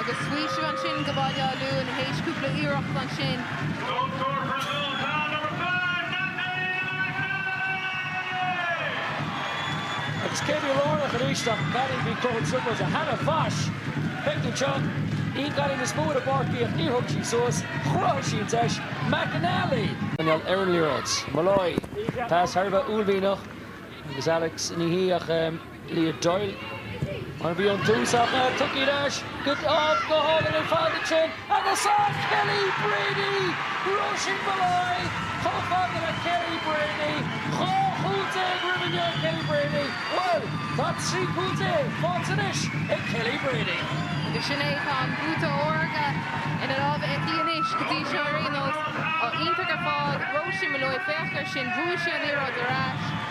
Agus faoiseamh ansin do Bhaile Átha Luain théis cúpla iarracht ansin. Agus cé bhí lárnach arís ach Gary Bhí croitheadh triples Hannah Waesch Beidh tú anseo Bhí Gary níos mó ina bpáirt bíodh Níor thug sí suas Chruthaigh sí an deis McNally ag coinneáil ar an liathróid. Molloy, pas thar a bheith uaillmhianach agus Alex ní hí ach. Leah Doyle, mar a bhí ón tús, ach tugtha ar ais go Uimh. go hálainn ar fad ansin agus an Kelly Brady! Róisín Molloy chomh fada le Kelly Brady, dhá chúl déag roimhe inniu ag Kelly Brady, bhuel, tá trí chúl déag faighte anois ag Kelly Brady. Agus sin é, tá an bhuatais órga ina lámha aici anois go dtí seo ar aon nós. Á, iontach ar fad, Róisín Molloy, féach ar sin, bhuaigh sí an liathróid ar ais.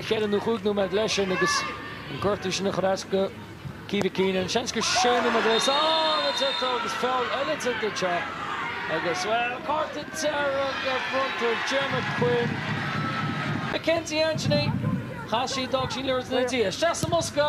4 nó 5 nóiméad leis sin agus an gortú sin ag cur as do Keeva Keenan. Seans gur 6 nóiméad a bheas ann a deirtear agus feall eile tar duit seo agus, bhuel, cárta dearg bronnta ar Jemma Quinn. Mackenzie Anthony, chas sí, d'fhág sí an liathróid ina diaidh isteach sa mbosca.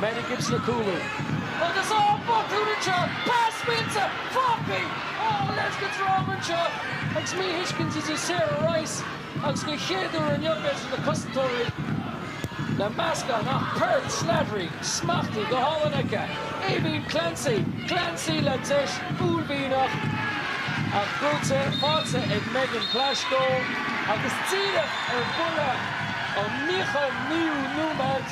Maddie Gibson ag cúlú agus á botún anseo, pas fillte, fágfaidh ó a leithéid de dhráma anseo agus míthuiscint idir Sarah Rice agus den chéad uair inniu agus na cosantóirí le meascán ach Pearl Slattery, smachtaithe go hálainn aici, Aoibheann Clancy, Clancy le deis uaillmhianach ach brúite, faighte ag Megan Plaschko agus díreach ar bhuille an nóchadú nóiméad.